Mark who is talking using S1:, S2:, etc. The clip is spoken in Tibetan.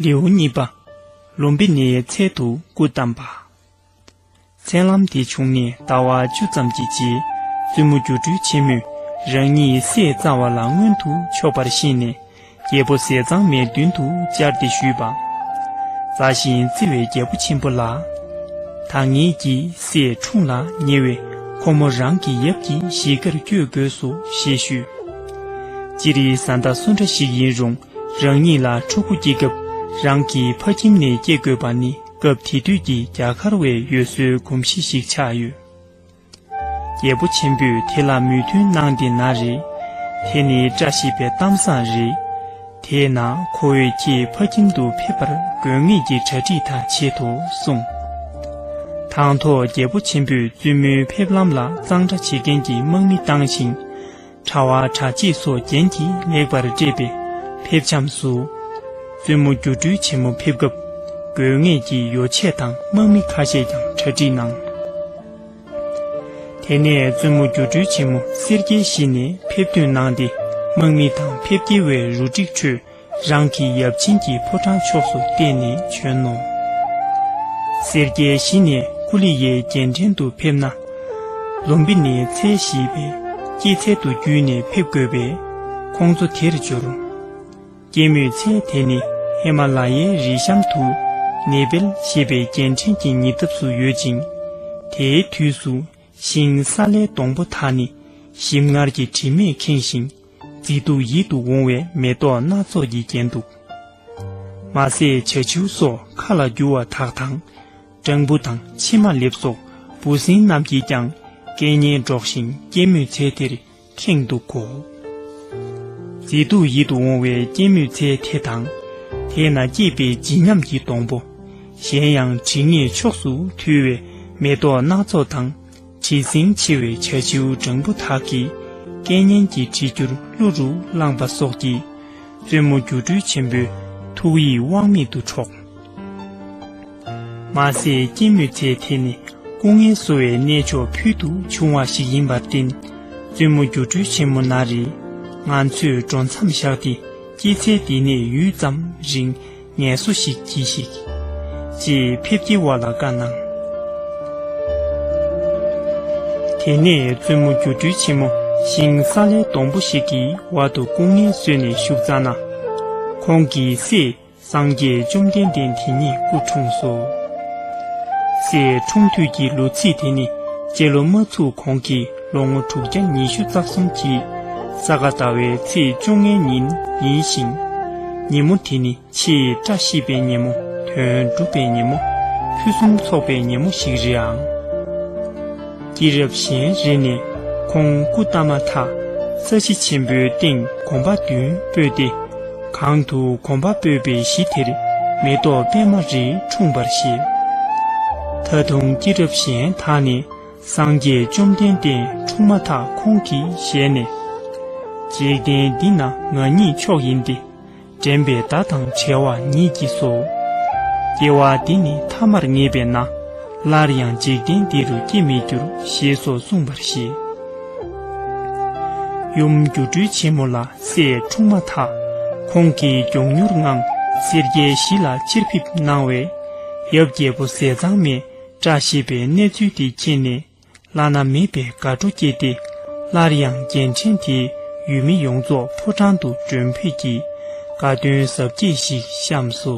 S1: ལེའུ་གཉིས་པ། ལུམ་བི་ནི་ཡའི་ཚལ་དུ་སྐུ་བལྟམས་པ། མཚན་ལམ་དེ་བྱུང་ནས་ཟླ་བ་བཅུ་ཙམ་གྱི་རྗེས་བཙུན་མོ་སྒྱུ་འཕྲུལ་ཆེན་མོས་རང་ཉིད་སྲས་གཙང་བ་ལ་མངོན་དུ་ཕྱོགས་པར་ཤེས་ནས། རྒྱལ་པོ་ཟས་གཙང་མའི་མདུན་དུ་བཅར་ཏེ་ཞུས་པ། མཛའ་ཞིང་བརྩེ་བའི་རྒྱལ་པོ་ཆེན་པོ་ལགས། ད་ངེད་ཀྱིས་སའི་འཁྲུངས་ལ་ཉེ་བས་ཁོ་མོ་རང་གི་ཡབ་ཀྱི་གཞིས་ཀར་བསྐྱོད་དགོས་སོ་ཞེས་ཞུས། སྤྱིར་ཡི་བཟའ་ཟླ་སུ་འདྲ་ཞིག་ཡིན་རུང་རང་ཉིད་ལ་ཕྲུ་གུ་སྐྱེས་སྐབས་རང་གི་ཕ་ཁྱིམ་ནས་སྐྱེས་དགོས་པ་ནི་སྐབས་དེ་དུས་ཀྱི་རྒྱ་གར་བའི་ཡུལ་སྲོལ་གོམས་གཤིས་ཤིག་ཆགས་ཡོད། རྒྱལ་པོ་ཆེན་པོས་དེ་ལ་མོས་མཐུན་གནང་སྟེ་ན་རེ། དེ་ནི་བཀྲ་ཤིས་པའི་གཏམ་བཟང་རེད། དེས་ན་ཁོ་བོས་ཁྱེད་ཕ་ཁྱིམ་དུ་ཕེབས་པར་དགོས་ངེས་ཀྱི་གྲ་སྒྲིག་དག་བྱེད་དོ་གསུངས། དང་ཐོག་རྒྱལ་པོ་ཆེན་པོས་བཙུན་མོའི་ཕེབས་ལམ་ལ་གཙང་སྦྲ་བྱེད་མཁན་གྱི་དམག་མི་བཏང་ཞིང། དྲ་བ་དྲ་ཕྱེད་སོགས་རྒྱན་གྱིས་ལེགས་པར་སྤྲས་པའི་ཕེབས་བྱམས་སུ། བཙུན་མོ་སྒྱུ་འཕྲུལ་ཆེན་མོ་ཕེབས་སྐབས་དགོས་ངེས་ཀྱི་ཡོ་བྱད་དང་དམག་མི་ཁ་ཤས་ཀྱང་གྲ་སྒྲིག་གནང། དེ་ནས་བཙུན་མོ་སྒྱུ་འཕྲུལ་ཆེན་མོ་སེར་སྐྱའི་གཞི་ནས་ཕེབས་ཐོན་གནང་སྟེ་དམག་མི་དང་ཕེབས་སྐྱེལ་བའི་རུ་སྒྲིག་ཁྲོད་རང་གི་ཡབ་ཆེན་གྱི་ཕོ་བྲང་ཕྱོགས་སུ་བལྟས་ནས་བྱོན་ནོ། སེར་སྐྱའི་གཞི་ནས་ཀུ་ལི་ཡའི་རྒྱལ་ཕྲན་དུ་ཕེབས་ན། ལུམ་བི་ནི་ཚལ་བཞི་པའི་སྐྱེད་ཚལ་དུ་བརྒྱུད་ནས་ཕེབས་དགོས་པས་ཁོང་ཚོ་དེར་འབྱོར། སྐྱེད་མོས་ཚལ་དེ་ནི་ཧེ་མ་ལ་ཡའི་རི་གཤམ་དུ་ནེ་པལ་ཞེས་པའི་རྒྱལ་ཕྲན་གྱི་ཉེ་འདབས་སུ་ཡོད་ཅིང། དེའི་དུས་སུ་ཤིང་སཱ་ལའི་སྡོང་པོ་དག་ནི་ཞིམ་མངར་གྱི་དྲི་མས་ཁེངས་ཤིང། མཛེས་སྡུག་ཡིད་དུ་འོང་བའི་མེ་ཏོག་སྣ་ཚོགས་ཀྱིས་བརྒྱན་འདུག་མ་ཟད་བྱ་ཆུ་སོགས་མཁའ་ལ་རྒྱུ་བ་དག་དང། སྤྲང་བུ་དང་ཕྱེ་མ་ལེབ་སོགས་འབུ་སྲིན་རྣམས་ཀྱིས་ཀྱང་སྐད་སྙན་སྒྲོག་བཞིན་སྐྱེད་མོས་ཚལ་དེར་ཁེངས་འདུག་གོ། མཛེས་སྡུག་ཡིད་དུ་འོང་བའི་སྐྱེད་མོས་ཚལ་དེ་དང། དེ་ན་སྐྱེས་པའི་བརྗིད་ཉམས་ཀྱི་སྡོང་པོ། གཞན་ཡང་དྲི་ངད་ཕྱོགས་སུ་འཐུལ་བའི་མེ་ཏོག་སྣ་ཚོགས་དང། བྲིས་ཟིན་ཆེ་བའི་བྱ་བྱིའུ་སྦྲང་བུ་དག་གིས་སྐད་སྙན་གྱི་བྲིས་རྒྱུར་གླུ་རུ་བླངས་པ་སོགས་ཀྱིས་བཙུན་མོ་སྒྱུ་འཕྲུལ་ཆེན་པོའི་ཐུགས་ཡིད་དབང་མེད་དུ་འཕྲོག། མ་ཟད་སྐྱེད་མོས་ཚལ་དེ་ནི་སྐུ་ངལ་གསོ་བའི་གནས་མཆོག་ཕུལ་དུ་བྱུང་བ་ཞིག་ཡིན་པར་བརྟེན་བཙུན་མོ་སྒྱུ་འཕྲུལ་ཆེན་མོ་ན་རེ་ང་ཚོས་འགྲོ་མཚམས་བཞག་སྟེ་སྐྱེད་ཚལ་འདི་ནས་ཡུད་ཙམ་རིང་ངལ་སོ་ཞིག་གྱིས་ཤིག། ཅེས་ཕེབས་ཀྱི་བ་ལ་བཀའ་གནང། དེ་ནས་བཙུན་མོ་སྒྱུ་འཕྲུལ་ཆེན་མོ་ཤིང་སཱ་ལའི་སྡོང་པོ་ཞིག་གི་བར་དུ་སྐུ་ངལ་བསོས་ནས་བཞུགས་ཙང་ན། ཁོང་གི་སྲས་སངས་རྒྱས་བཅོམ་ལྡན་འདས་དེ་ཉིད་སྐུ་འཁྲུངས་སོ། སྲས་འཁྲུངས་དུས་ཀྱི་ལོ་ཚིགས་དེ་ནི་སྤྱི་ལོ་མ་ཚུགས་གོང་གི་ལོ་ངོ་དྲུག་བརྒྱ་ཉི་ཤུ་རྩ་གསུམ་གྱི་ས་ག་ཟླ་བའི་ཚེས་བཅོ་ལྔའི་ཉིན་ཡིན་ཞིང། ཉིན་མོ་དེ་ནི་ཆེས་བཀྲ་ཤིས་པའི་ཉིན་མོ་དོན་འགྲུབ་པའི་ཉིན་མོ་ཕུན་སུམ་ཚོགས་པའི་ཉིན་མོ་ཞིག་རེད་ཨང། སྐྱེས་རབས་གཞན་རེ་ནས་ཁོང་སྐུ་བལྟམས་མ་ཐག་ས་གཞི་ཆེན་པོའི་སྟེང་གོམ་པ་བདུན་སྤོས་ཏེ། གང་དུ་གོམ་པ་སྤོས་པའི་གཞི་དེར་མེ་ཏོག་པད་མ་རིས་འཁྲུངས་པར་བཞེད། ད་དུང་སྐྱེས་རབས་གཞན་དག་ནི། སངས་རྒྱས་བཅོམ་ལྡན་འདས་འཁྲུངས་མ་ཐག་ཁོང་གིས་ཞལ་ནས། འཇིག་རྟེན་འདི་ན་ང་ཉིད་མཆོག་ཡིན་ཏེ། འདྲེན་པའི་བརྡ་དང་བྲལ་བ་ཉིད་ཀྱིས་སོ། སྐྱེ་བ་འདི་ནི་ཐ་མར་ངེས་པས་ན། སླར་ཡང་འཇིག་རྟེན་འདི་རུ་སྐྱེ་མི་འགྱུར་ཞེས་སོགས་གསུངས་པར་བཞེད། ཡུམ་སྒྱུ་འཕྲུལ་ཆེན་མོ་ལ་སྲས་འཁྲུངས་མ་ཐག་ཁོང་གིས་མགྱོགས་མྱུར་ངང་སེར་སྐྱའི་གཞི་ལ་ཕྱིར་ཕེབས་གནང་བས། ཡབ་རྒྱལ་པོ་ཟས་གཙང་མས་བཀྲ་ཤིས་པའི་གནས་ཚུལ་དེ་མཁྱེན་ནས་བླ་ན་མེད་པའི་དགའ་སྤྲོ་སྐྱེས་ཏེ་སླར་ཡང་རྒྱལ་ཕྲན་དེའི་ཡུལ་མི་ཡོངས་རྫོགས་ཕོ་བྲང་དུ་མགྲོན་ཕེབས་ཀྱིས་དགའ་སྟོན་གཟབ་རྒྱས་ཤིག་བཤམས་སོ།